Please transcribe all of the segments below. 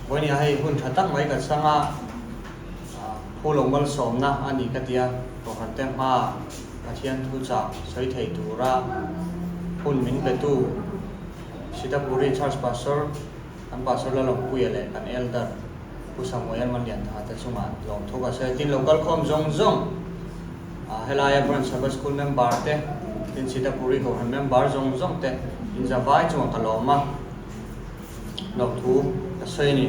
Bawi nia hei hun tha tak mai kan sang a, pu lo malsawmna a ni ka tia, Tawhrante hma Pathian thu chak sawi thei tura hun min petu Sitapuri Church Pastor kan Pastor Lalawngpuia leh kan Elder Pu Samuel Manliantha te chunga lawm tho ka sawi a, tin lo kal khawm zawng zawng helaia Branch Sabbath School Member te tin Sitapuri Kohhran Member zawng zawng te in zavai chunga ka lawm a. Hnawk thu ka sawi ni.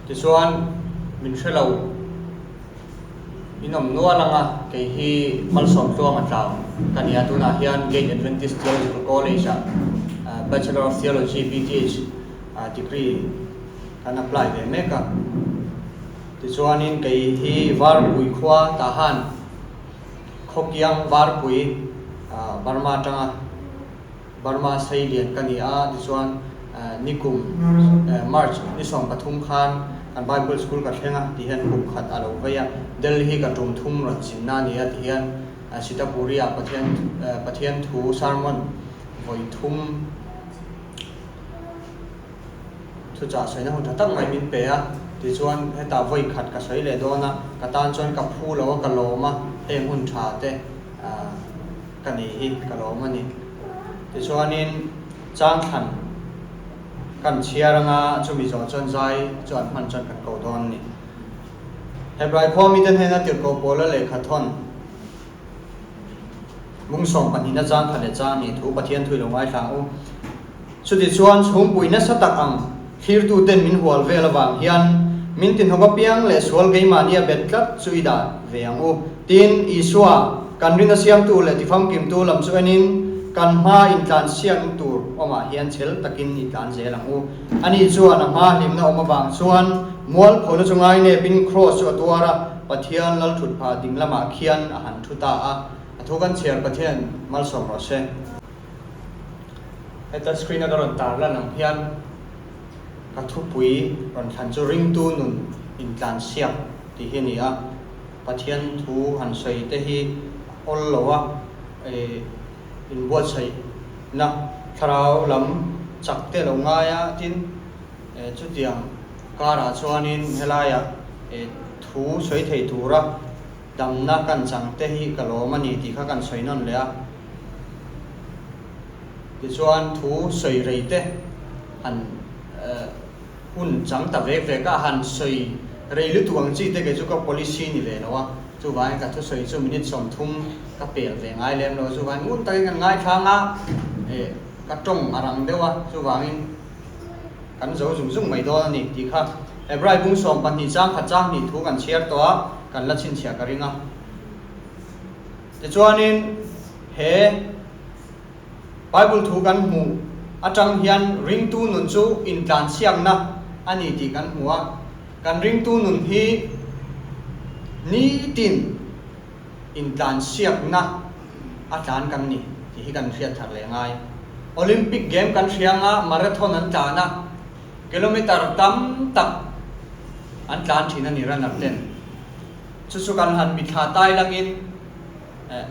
Tichuan min hre lo. In awm nual anga kei hi Malsawm tluanga tlang ka nia tunah hian Gate Adventist Theological College-a Bachelor of Theology, BTH, degree kan apply ve mek a. Tichuanin kei hi Varpui khua tah han Khawkiang Varpui, Burma atanga Burma sei lian ka ni a, tichuan ni kum March ni sawm pathum khan kan Bible School ka thleng a tih hian kum khat a lo vei a, Delhi ka tum thum rawn chinna a ni a tih hian Sitapuria Pathian Pathian thu sermon vawi thum. Chuchah sawiina hun tha tak mai min pe a, tichuan heta vawi khat ka sawi leh dawn a, ka tan chuan ka phu lo a, ka lawm a, heng hun tha te ka nih hi ka lawm a ni. Tichuanin changthlan kan chhiar anga chumi zawh chuan zai chu an hman chuan kan ko dawn a ni. Hebrai khua mite hnena tirhkoh pawla lehkha thawn Mungsawm pahnihna changthla leh chang ni thu Pathian thui lo ngaithlang u. Chuti chuan chhungpuii nasa tak ang thlirtuten min hual vel avang hian min tihnawk apiang leh sual keimahni a bet tlat chu i dan ve ang u tiin Isua, kan ringa siamtu leh tifamkimtu lam chu enin kan hma intlan siamin tur awmah hian chhel takin i tlan zel ang u. Ani chuan a hma hlimna awm avang chuan mual phona chu ngai nepin kraws chu a tuar a, Pathian lal thut phah dinglamah khian a han thu ta a, a thu kan Chhiar Pathian malsawm rawh se. Heta screen a ka rawn tar lan ang hian ka thupui rawn thlan chu ringtu nun intlan siak tih hi a ni a, Pathian thu han sawi te hi awl lo a, inbuatsaih na thlarau lam chak teh lo ngai a, tin chutiang karah chuan in helaia thu sawi thei tura, Damna kan chang te hi ka lawm a ni tih kha kan sawi nawn leh a. Tichuan thu sawi rei te han hun chang ta vek vek a, han sawi rei lutuk ang chi te kei chu ka policy ni ve lo a, chuvangin ka thusawi chu minute sawmthum ka pel ve ngai lem lo a, chuvangin ngun takin kan ngaithlang a, ka tawng a rang deuh a, chuvangin kan zo zung zung mai dawn a ni tih kha Hebrai bung sawm pahnih chang khat chang hnih thu kan chhiar tawh a, kan la chhinchhiah ka ring a. Tichuanin he Bible thu kan hmuh atang hian ringtu nun chu intlanchhiakna a ni tih kan hmu a, kan ringtu nun hi nitin, intlansiakna a tlan kan ni tih hi kan hriat thar leh ngai. Olympic Game kan hria anga Marathon an tlan a, kilometer tam tak an tlan thin a ni runner ten. Chu chu kan han mi thla tai langin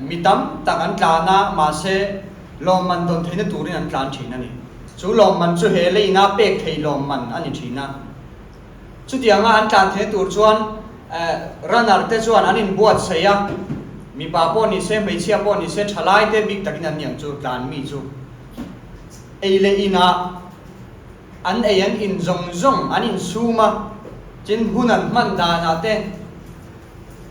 mi tam tak an tlan a, mahse lawmman dawn theihna turin an tlan thin a ni. Chu lawmman chu he leiin a pek thei lawmman a ni thin a. Chutianga an tlan theih tur chuan runner te chuan an in buat saih a, mipa pawh ni se hmeichhia pawh ni se thalai te bik takin an ni ang chu tlan mi chu ei leh inah an ei an in zawng zawng an in sum a, tin hun an hman danah te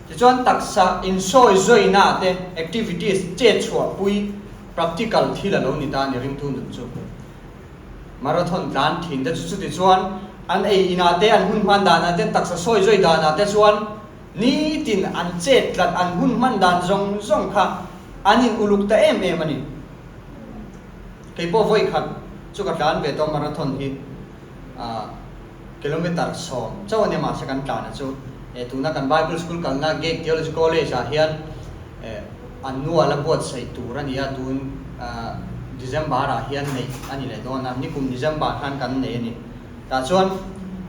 tichuan taksa in sawi zawina te activities chet chhuah pui practical thil a lo ni ta a ni ringtu nun chu. Marathon tlan thin te chu chuti chuan an ei inah te, an hun hman danah te, taksa sawi zawih danah te chuan nitin an chet tlat an hun hman dan zawng zawng kha an in uluk ta em em a ni. Keipawh vawikhat chu ka tlan ve tawh a marathon hi. Kilometer sawm chauh a nia mahse kan tlana chu eh tuna kan Bible School kalna Gag Theology College ah hian eh an nual a buatsaih tur a nia tun December ah hian neih a ni leh dawn a nikum December khan kan nei a ni tah chuan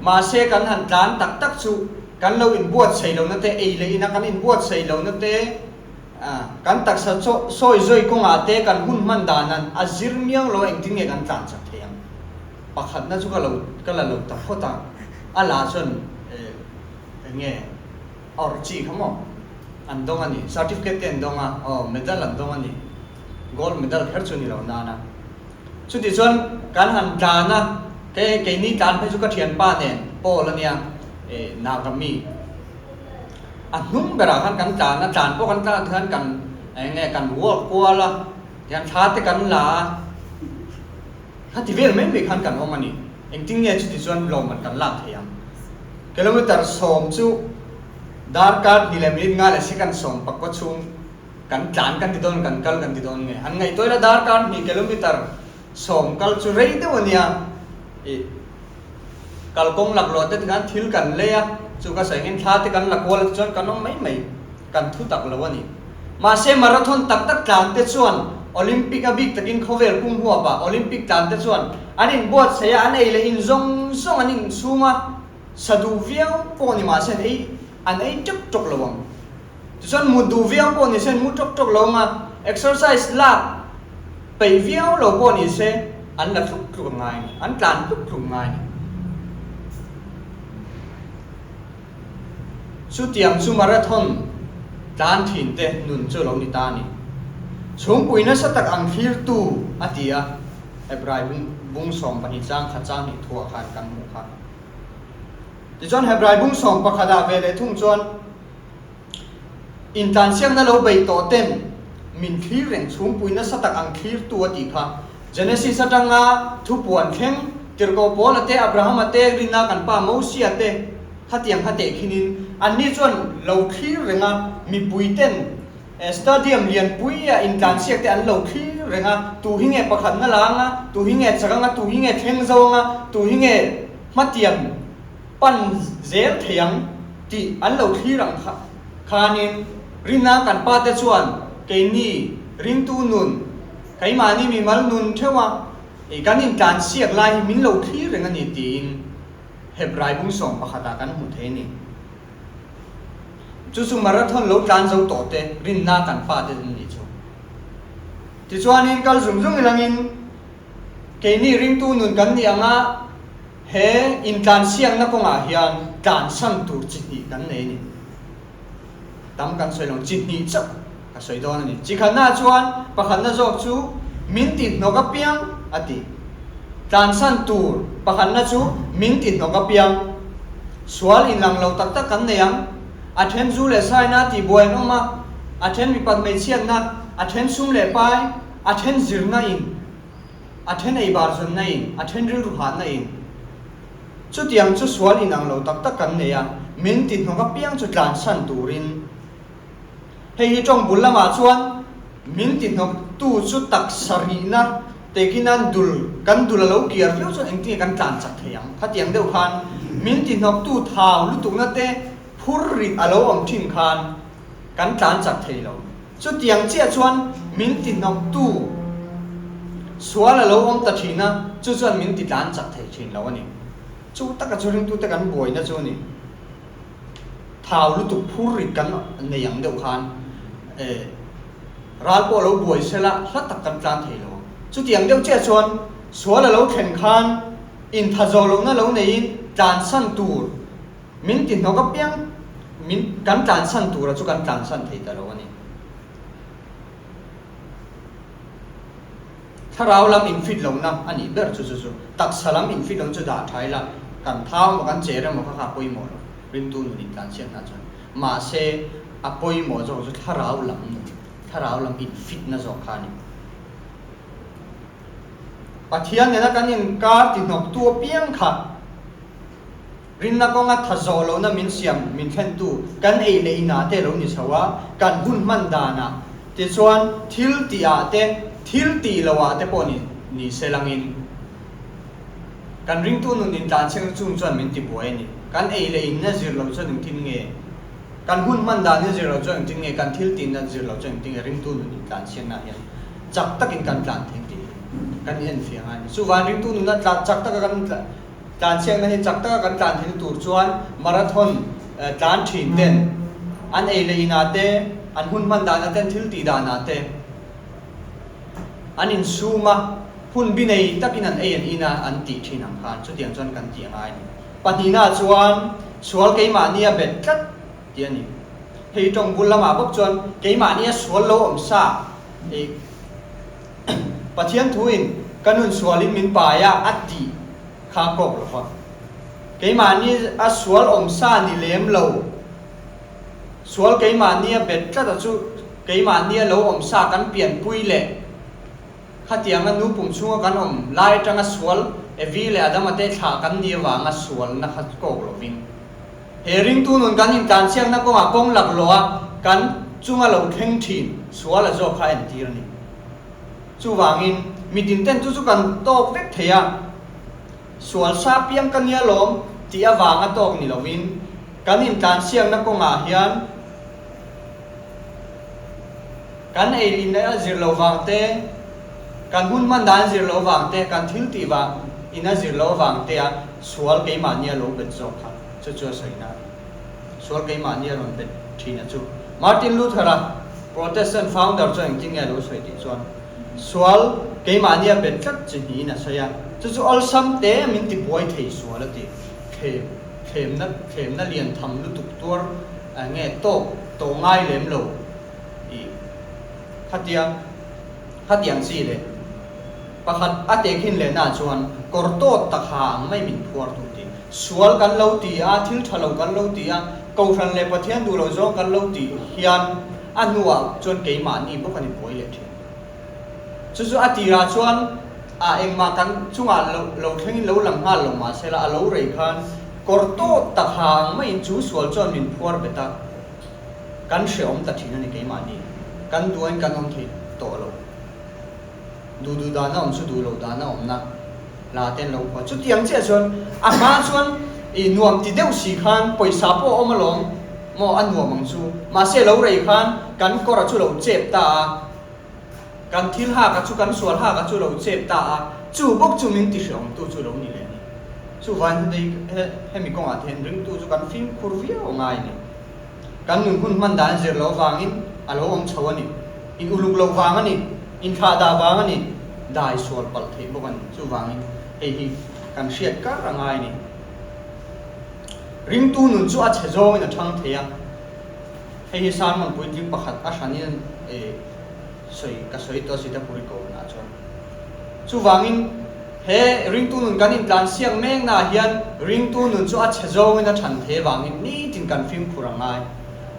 mahse kan han tlan tak tak chu kan lo in buatsaih lohna te ei leh ina kan in buatsaih lohna te ah kan taksa chawh sawi zawih kawngah te kan hun hman dan an a zir miang lo a engtin nge kan tlan chak thei ang. Pakhatna chu ka lo ka la lo ta hawt a, a la chuan eh eng nge a awrh chi kha maw? An dawng a ni, certificate te an dawng a, aw medal an dawng a ni, gold medal kher chu a ni lo nan a. Chutih chuan kan han tlan a, kei keini tlan phei chu ka thianpa nen Paul a nia, eh Naga mi, a hnung berah khan kan tlan a, tlan pawh kan tlan ti khan kan eng nge kan ruak kual a, tiang thla te kan la a, Kha ti vel mai mai khan kan awm a ni. Engtin nge chuti chuan lawmman kan lak thei ang? Kilometer sawm chu darkar hnih leh minute nga leh second sawm pakua chhung kan tlan kan ti dawn kan kal kan ti dawn nge? An ngaihtuah ila darkar hnih kilometer sawm kal chu rei deuh a nia. Ih, kalkawng lakluahte tikhan thil kan lei a, chu ka saih angin thla te kan la kual a tichuan kan awm mai mai. kan thu tak lo a ni. Mahse, marathon tak tak tlangte chuan Olympic-a bik takin khawvel pum huap a, Olympic tlangte chuan an inbuatsaih a, an ei leh in zawng zawng an inchhung a, sa duh viau pawh ni mahse an ei, an ei ṭawk ṭawk lo ang. Tichuan mut duh viau pawh ni se an mu ṭawk ṭawk lo ang a, exercise lak peih viau lo pawh ni se an la tluk tluk ang a ni, an tlan tluk tluk ang a ni. Chutiang chu marathon tlan thin te nun chu lo ni ta a ni. Chhungpui nasa tak ang thlir tu a ti a Hebrai bung sawm pahnih chang khat chang hnih thu ah khan kan hmuh kha. Tichuan Hebrai bung sawm pakhat ah ve leh thung chuan, Intlansiakna lo bei tawh ten min thlir reng chhungpui nasa tak ang thlir tu a tih kha. Genesis atanga thupuan thleng tirhkoh pawla te, Abrahama te, rinna kan pa Mosia te khatiang kha tehkhinin an ni chuan lo thlir reng a, mipui ten stadium lianpuia intlansiak te an lo thlir reng a, tu hi nge pakhatna la anga, tu hi nge chak anga, tu hi nge thleng zo anga, tu hi nge hmatiam pan zel thei ang tih an lo thlir ang kha khanin rinna kan pa te chuan keini ringtu nun keimahni mimal nun theuha ih kan intlan siak lai hi min lo thlir reng a ni tiin hep raibung sawm pakhatah kan hmuh theih a ni. Chu chu marathon lo tlan zo tawh te rinna kan pa te an nih chu. Tichuanin kal zum zung i langin keini ringtu nun kan nih ang a, He intlansiakna kawngah hian tlan san tur chi hnih kan nei a ni. Tam kan sawi lo, chi hnih chauh ka sawi dawn a ni. Chi khatnaah chuan pakhatna zawk chu min ti hnawk apiang a ti. Tlan san tur pakhatna chu min ti hnawk apiang. Sual inlang lo tak tak kan nei ang. A then zu leh saina tihbuai an awm a, a then mipat hmeichhiatna, a then sum leh pai, a then zirna in. a then eibarzunna in, a then rilru hahna in, chutiang chu sual inang lo tak tak kan nei a, min tihnawk apiang chu tlansan turin. Hei hi tawng bul lamah chuan min tihnawk tu chu taksa rihna tekina dul, kan dul a lo kiar viau chuan engtinge kan tlan chak thei ang. Khatiang deuh khan min tihnawk tu thau lutukna te phur rit a lo awm thin khan kan tlan chak thei lo. Chutiang chiah chuan min tihnawktu sual a lo awm ta thin a, chu chuan min titlan chak thei thin lo a ni. Chu taka chu ringtute kan buaina chu ni thau lutuk phur rit kan nei ang deuh khan eh ral pawh a lo buai sel a, hla tak kan tlan thei lo. Chutiang deuh chiah chuan sual a lo thlen khan inthazawl loh na lo neiin tlansan tur, Min tihnawk apiang min kan tlansan tura chu kan tlansan thei ta lo a ni. Thlarau lam infit lohna a nih ber chu chu chu taksa lam infit lohna chu dah tha ila kan thau maw kan che reng maw kha kha a pawimawh lo, rimtu nun in tlansiam hna chuan. Mahse a pawimawh zawk chu thlarau lam nun, thlarau lam infitna zawk kha a ni. Pathian nena kan inkar tihnawktu apiang kha. Rinna kawnga tha zawh lohna min siam min thlentu kan ei leh inah te lo ni chho a, kan hun hman danah. Tichuan, thil ti ah te, thil ti lo ah te pawh nih ni sel angin, kan ringtu nun in tlan chheng chung chuan min ti buai a ni. Kan ei leh inna zir lo chuan engtin nge? Kan hun hman dan in zir lo chuan engtin nge? Kan thil ti na zir lo chuan engtin nge? Ringtu nun in tlan chhian nah hian chak takin kan tlan thei tih kan en fiah ngai a ni. Chuvain ringtu nuna tlan chak taka kan tlan. Tlanchhiakna hi chak taka kan tlanthei na tur chuan marathon tlan thin ten, an ei leh inah te, an hun hman dan aten thil tih danah te an insum a, hun bi nei takin an ei an in a an tih thin ang khan chutiang chuan kan tih angai ni. Pahnihna chuan sual keimahnia bet tlat tih a ni. Hei tawng bul lamah bawk chuan keimahnia sual lo awm sa ei. Pathian thuin ka nun sualin min paia a tih kha a kawk lo va. Keimahni a sual awm sa ni lem lo, sual keimahni a bet tlata chu keimahni a lo awm sa kan pianpui leh khatianga nu pum chhunga kan awm lai atanga sual Evi leh Adam a tehthlah kan nih avanga sualna kha kawk lovin. He ringtu nun kan intlansiakna kawngah kawng laklawha kan chunga lo thleng thin suala zawk kha a entir a ni. Chuvangin, mitinte'n chu chu kan tawk vek thei a, sual sa piang ka nia lawm tih avanga tawk ni loin kan intlansiakna kawngah hian, Kan ei rin a zir lo vang te, kan hun hman dan zir lo vang te, kan thil tih vang in a zir lo vang te a sual keimahni a lo bet zawk kha chu chu a sawina a ni. Sual keimahni a rawn bet thin a chu Martin Luther a Protestant founder chu engtin nge a lo sawi tih chuan sual keimahni a bet tlat chi niin a sawi a, chu chu awlsam te min tibuai thei sual a ti thei. thlemna thlemna lian tham lutuk tuar a nge tawk tawh ngai lem lo i khatia khatiang chi le pakhat a te khin leh na chuan kawr tawt tak ha ang mai min phuar tu ti sual kan lo ti a thil tha lo kan lo ti a kohhran leh pathian duh lo zawng kan lo tih hian a hnuah chuan keimah ni bawk a ni buai leh thin. Chu chu a tirah chuan a engmah kan chungah lo lo thlengin lo lang nghal lo mah sela a lo rei khan kawr tawt tak ha ang maiin chu sual chuan min phuar bet a, kan hre awm ta thin a ni keimahni kan duain kan awm thei tawh lo. Duh duh dan a awm chu duh lo dan a awmna la ten lo hua. Chutiang chiah chuan a hma chuan i nuam ti deuh si khan pawisa pawh a awm alawm maw a nuam ang chu mahse lo rei khan kan kawr a chu lo chep ta a, Kan thil hak a chu, kan sual hak a chu lo chep ta a, chu bawk chu min ti hriawm tu chu lo ni leh ni. Chuvain heti he hemi kawngah te hian ringtu chu kan fimkhur viau ngai ni. Kan nun hun hman dan zir lo vangin a lo awm chho a ni. In uluk lo vang a ni, in thlah dah vang a ni, dai sual palh theih bawk a ni. Chuvangin hei hi kan hriat kar a ngai ni. Ringtu nun chu a chhe zawngin a thang thei a. Hei hi Sarman puitling pakhat a hran in e sawi ka sawi tawh si te pawh i ko hna chuan. Chuvangin he ringtu nun kan intlan siak mek naah hian ringtu nun chu a chhe zawngin a chhan thei vangin nitin kan fimkhur a ngai.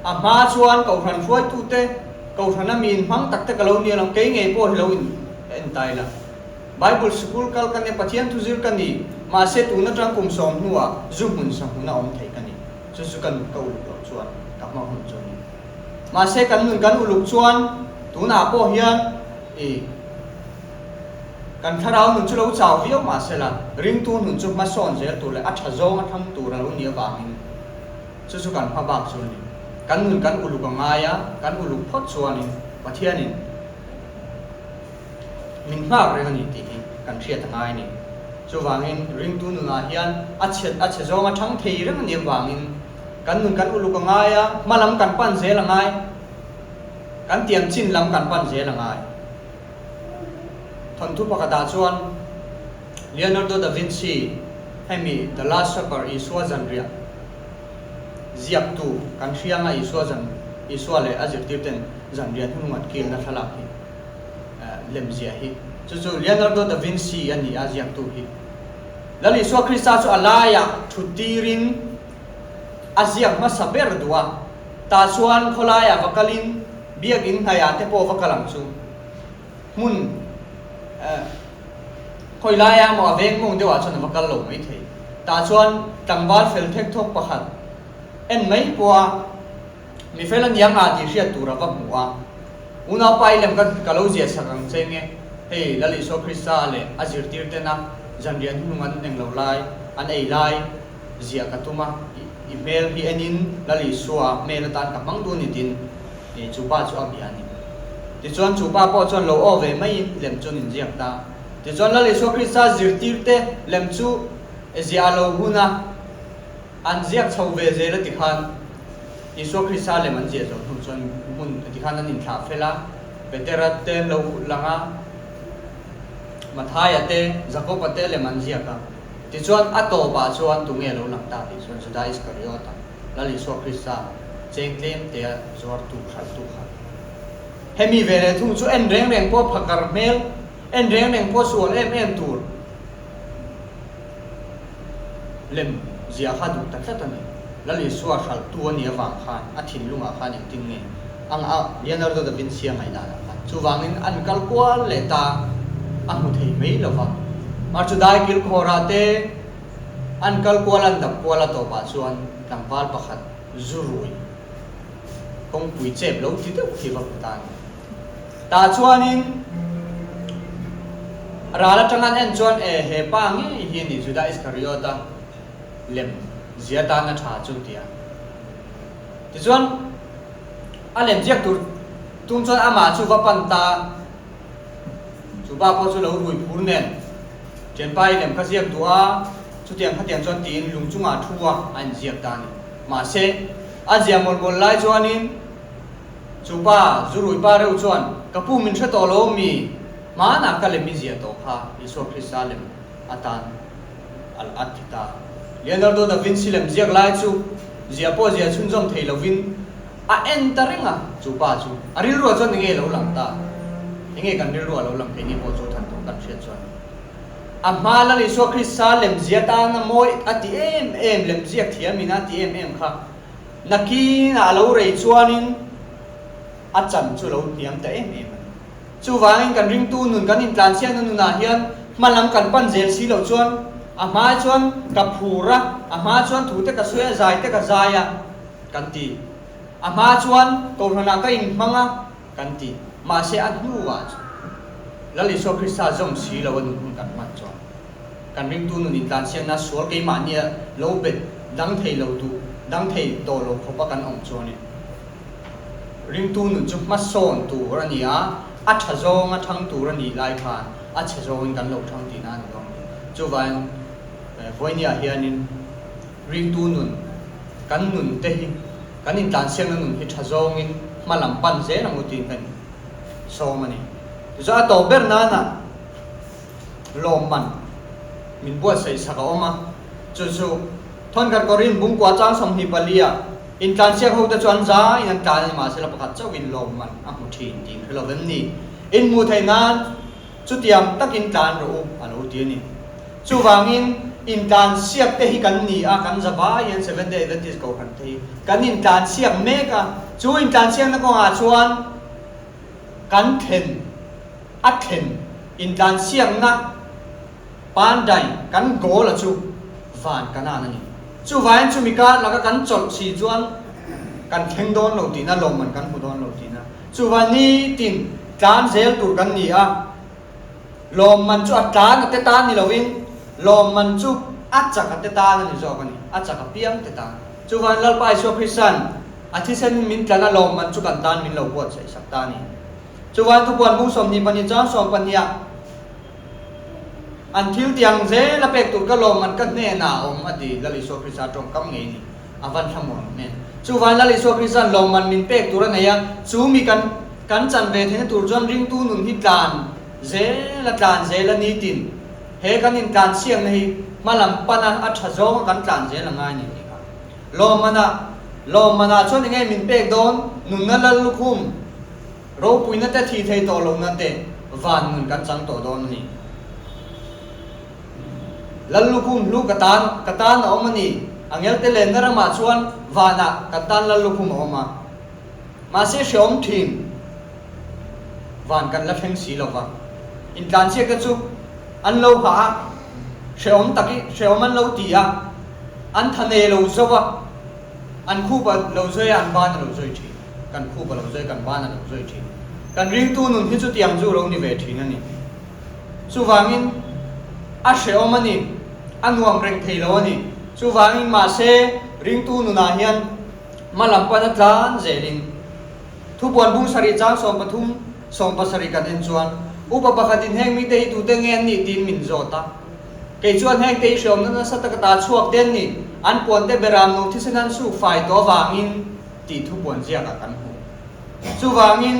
A hma chuan ko hran hruaitu te, ko hran a miin hmang tak te ka lo nia lo, kei ngei pawh hi lo in entai la. Bible Sikul kal ka nia, Pathian thu zir ka ni, mahse tun atang kum sawm hnuah zu hmun sahmun a awm thei ka ni. chu chu ka nun ka uluk loh chuan ka hma hun chu ni. Mahse kan nun kan uluk chuan tunah pawh hian i kan thlarau nun chu lo chau viau mahsela ringtu nun chu hmasawn zel tur leh a tha zawng a tham tur a lo ni avangin chu chu kan hma bak chu a ni. Kan nun kan uluk a ngai a, kan uluk phawt chuanin Pathianin. min nghak reng a ni tih hi kan hriat a ngai ni. Chuvangin ringtu nunah hian a chhe a chhe zawnga thang thei reng a ni avangin kan nun kan uluk a ngai a, hma lam kan pan zel a ngai, kan tiam chin lam kan pan zel a ngai. Thawnthu pakhatah chuan Leonardo da Vinci hemi The Last Supper Isua zanriah ziaktu kan hrianga Isua zan Isua leh a zirtirten zanriah hnu nghat kilna thlalak hi, lemziah hi chu chu Leonardo da Vinci a ni a ziaktu hi. Lal Isua Krista chu a laiah thu tirin a ziak hmasa ber duh a, tah chuan khawlaiah va kalin biakinn hnaihah te pawh va kal ang chu hmun khawilaia maw a veng mawng deuhah chuan a va kal lo mai thei. Tah chuan tlangval fel thek thawk pakhat en mai pawha, Mi fel a ni ang a tih hriat tur a va hmu a. Unau pa-i lem ka ka lo zia sak ang che nge, hei Lal Isua Krista leh a zirtirtena zanrian hnung an eng lo lai, an ei lai zia ka tum a. I hmel hi enin Lal Isua a hmel atan ka hmang duh ni tin i chu pa chu a bia a ni. Tichuan chu pa pawh chuan lo aw ve maiin lem chu an inziak ta. Tichuan Lal Isua Krista zirtirte lem chu e ziah a lo hun a. An ziak chho ve zel a ti khan Isua Krista lem an ziah zawh hnu chuan hmun a ti khan an inthlah fel a, Petera te an lo kut lang a, Mathaia te, Jakoba te lem an ziak a. Tichuan a tawpah chuan tunge a lo lang ta tih chuan Juda Iskariota, Lal Isua Krista cheng tlem te a zuartu hralhtu kha. Hemi ve leh thung chu en reng reng pawh phakar hmel, en reng reng pawh sual em em tur, Lem ziah kha duh ta tlat a ni. Lali suar hralhtu a nih avang khan a thinlungah khan engtin nge ang a, Leonardo da Vinci-a ngaih danah khan chuvangin an kal kual leh ta a hmu thei mai lo va. Mar chu dai kilkhawrah te an kal kual an dap kual a tawpah chuan tlangval pakhat zu rui kawngpui chep lo ti deuh hi va hmu ta a ni. Tah chuanin ral atangan en chuan, E, he pa ngei hi a ni, Juda Iskariota lem zia tana tha chu, ti a. Tichuan a lem ziak tur tum chuan amah chu va pan ta a, chu pa pawh chu lo rui phur nen Thianpa-i lem ka ziak duh a, chutiang khatiang chuan tiin lung chungah thu a a inziak ta a ni. Mahse, a ziah mawlh mawlh lai chuanin. Chu pa, zu rui pa reuh chuan, Ka pu min hre tawh lo mi? Hmaan ah ka lem i ziah tawh kha, Isua Krista lem atan alh a ti ta. Leonardo da Vinci lem ziak lai chu ziah pawh ziah chhunzawm thei lovin a en ta reng a, chu pa chu. A rilruah chuan enge lo lang ta? Enge kan rilruah lo lang keini pawh chu than tawh kan hriat chuan a hma lal Isua Krista lem ziah tan a mawi a ti em em, lem ziak thiam in a ti em em kha. Nakinah a lo rei chuanin a chan chu a lo hniam ta em em a ni. Chuvangin kan ringtu nun kan intlanchhiah na nunah hian hmalam kan pan zel si lo chuan a hmai chuan ka phur a, a hma chuan thu te ka sawi a, zai te ka zai a kan ti. A hma chuan kohhranah ka inhmang a kan ti. Mahse a hnuah chuan Lalisua Krista zawng si lo a nun hun kan hman chuan. Kan ringtu nun in tlansiakna sual keimahnia lo bet dang thei lo duh, dang thei tawh lo khawpa kan awm chuang nen, ringtu nun chu hmasawn tur a ni a, a tha zawng a thang tur a nih lai khan a chhe zawngin kan lo thang tihna a ni vang nen, chuvaiin Vawiniah hianin ringtu nun, kan nun te hi, kan in tlansiakna nun hi tha zawngin hma lam pan zel ang u tiin kan in sawm a ni. Tichuan a tawh ber nanah, lawm man min buatsaih sak a awm a, chu chu thawn khat Korin bung kua chang sawmhnih pali ah intlan siak hote chu an za in an tlan ni mah se la pakhat chauh in lawm man a hmu thin ti in hre lo em ni? In hmuh theih nan chutiang tak in tlan rawh u a lo ti a ni. Chuvang in intlan siak te hi kan ni a, kan za bai hian Seventh Day Adventist Kohhran te hi kan intlan siak mek a, chu intlan siak na kawng ah chuan kan thlen, a thlen intlan siamna pandai kan goal a chu van kanan a ni. Chuvaiin chumi kar laka kan chawlh si chuan kan thleng dawn lo tihna lawmman kan hmu dawn lo tihna chuva nitin tlan zel tur kan ni a, lawmman chu a tlan a te tan ni lovin lawmman chu a chak a te tan a ni zawk a ni, a chak a piang te tan. Chuvaiin Lalpa Isua Krista'n a thisen min tlan a lawmman chu kan tan min lo buatsaih sak ta a ni. Chuan thupuan hmu sawm ni panin chuan sawm pahnih ah an thil tiang zel a pek tur ka lawmman ka hnenah a awm, a ti. Lal Isua Krista tawngkam ngei ni a van hla maw ang em? Chuvai Lal Isua Krista'n lawmman min pek tur a nei a, chu mi kan kan chan ve thei na tur chuan ringtu nun hi tlan zel a tlan zel a nitin he kan intlan siamna hi hmalam pana a tha zawnga kan tlan zel a ngai ni tih kha. Lawmana, Lawmana chuan enge min pek dawn? Nunna lal lukhum, ropuina te thi thei tawh lohna te van ngun kan chang tawh dawn a ni. Lal lukhum hlu ka tan, ka tan a awm a ni. Angelte lenna ramah chuan vanah kan tan lal lukhum a awm a. Mahse hreawm thin van kan la thleng si lova, intlanchia te chu an lo hah a, hreawm tak i hreawm an lo ti a, an tha ne lo zauh a, an khup a lo zawih a, an ban a lo zawih thin, kan khup a lo zawih, kan ban a lo zawih thin. Kan ringtu nun hi chutiang chu lo ni ve thin a ni. Chuvangin a hreawm a ni, a nuam reng thei lo a ni. Chuvangin mahse ringtu nunah hian. Hma lam pana tlan zelin thupuan bung sarih chang sawm pathum, sawm pasarih kan en chuan upa pakhatin heng mite hi tute nge an nih tiin min zawt a. Kei chuan hengte i hreawmna nasa taka ta chhuak te an ni, an puante Beram nu thisen an suk fai tawh avangin tih thupuan ziakah kan hmu. Chuvangin,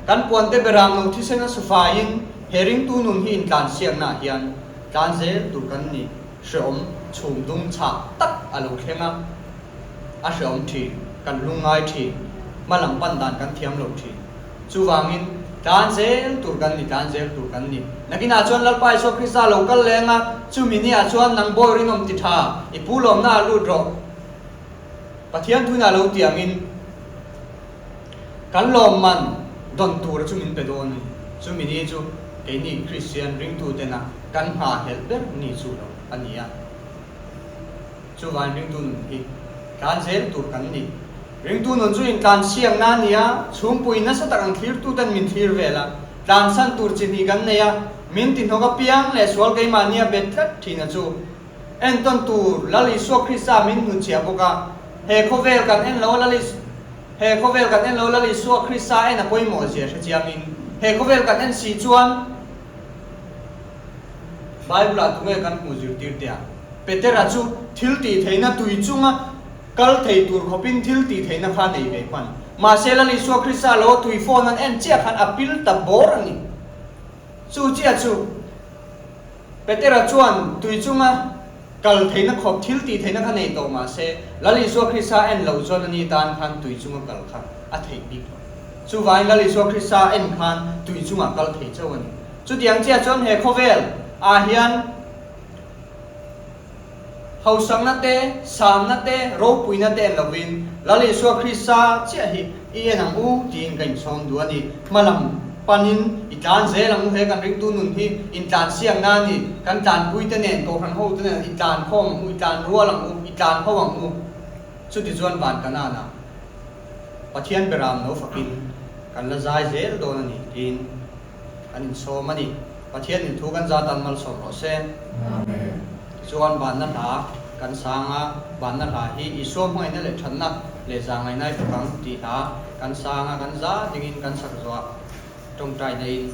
kan puante Beram nu thisen a su faiin he ringtu nun hi intlansiaknaah hian tlan zel tur kan ni. hreawm chhum dum chhak tak a lo thleng a, a hreawm thin, kan lung ngai thin, hma lam pan dan kan thiam lo thin. Chuvangin tlan zel tur kan ni, tlan zel tur kan ni. Nakinah chuan Lalpa Isua Krista lo kal leng a, chumi ni ah chuan nang bawi rinawm ti tha, i pu lawmna ah lut rawh. Pathian tuna lo tiangin Kan lawmman don tura chu min pe dawn ni. Chumi hi chu keini Kristian ringtutena kan hna helh ber ni chu lo a ni a. Chuvain ringtu nun hi tlan zel tur kan ni. Ringtu nun chu intlan siamna a ni a, chhungpui nasa tak ang thlirtute'n min thlir vel a, tlansan tur chi hnih kan nei a, min tihnawk apiang leh sual keimahni a bet tlat thihna chu, En tawn tur Lal Isua Krista min hun chhiah bawk a, he khawvel kan en lo Lal Isua he khawvel kan en lo Lal Isua Krista en a pawimawh zia hre chiang in he khawvel kan en si chuan Bible ah tunge kan hmuh zirtir tia Petera chu thil tih theihna tui chunga kal thei tur khawp in thil tih theihna kha nei ve hman mahse Lal Isua Krista lo tui fawn an en chiah khan a pil ta bawr a ni chu chiah chu Petera chuan tui chunga kal theihna khawp, thil tih theihna kha nei tawh mah se, Lal Isua Krista en lo chuan ani tan khan tui chunga kal kha a theih bik lo. Chuvangin Lal Isua Krista en khan tui chungah kal thei chauh a ni. Chutiang chiah chuan he khawvel ah hian. Hausakna te, sanna te, ropuina te lovin Lal Isua Krista chiah hi i en ang u tiin ka insawm duh a ni. Hmalam panin i tlan zel ang u he kan ringtu nun hi intlan siamna a ni. Kan tlanpuite nen, kohhran hote nen i tlan khawm ang u, i tlan rual ang u, i tlan ho ang u. Chuti chuan van kanana Pathian beraam lo fakin kan la zai zel dawn a ni tiin Kan insawm a ni. Pathian in thu kan zat dan malsawm rawh se. Amen. Tichuan banna hla kan sang a, banna hla hi Isua hmaina leh thatna leh za ngainai ber bang ti hla kan sang a, kan zat ding in kan sak zuah tawngtaina in.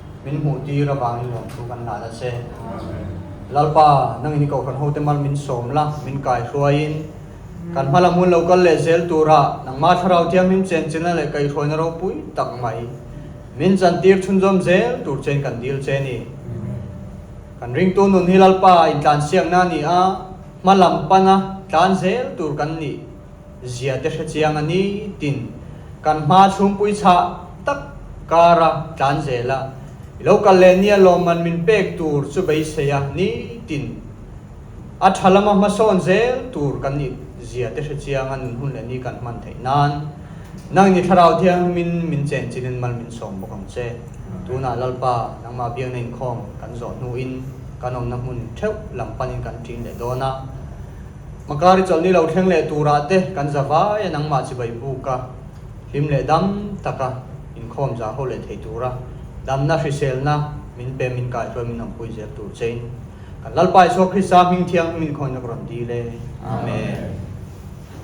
min hmuh tir avangin nuam thu kan la la che. Lalpa, nangin i kohhran hote mal min sawm la, min kai hruaiin kan hma lam hun lo kal leh zel tura nangma thlarau thiam him chen chenna leh kaihhruaina ropui tak mai min zantir chhunzawm zel tur chen kan dil che ni. Kan ringtu nun hi Lalpa intlansiamna nia hma lam pana tlan zel tur kan nih. zia te hrechiang a ni tin kan hma chhungpui chhah tak kara tlan zel a, i lo kal leh nia lawm man min pek tur chu beisei a ni tin a tha lama hmasawn zel tur kan nih zia te hrechiang a nun hun leh ni kan hman theih nan nang ni thlarau thiang min min chen chin in mal min sawm bawk ang che. Tunah Lalpa nangmah biakna inkhawm kan zawh hnu in kan awmna hmun theuh lam pan in kan ṭin leh dawn a, Makari chawlhni lo thleng leh turah te kan za vai a nangmah chi bai buk a, hlim leh dam taka inkhawm za ho leh thei tura damna hriselna min pe min kaihruai min awmpui zel tur chein kan Lalpa Isua Krista hming thiang hming in khawngaihnak rawn dil e. Amen.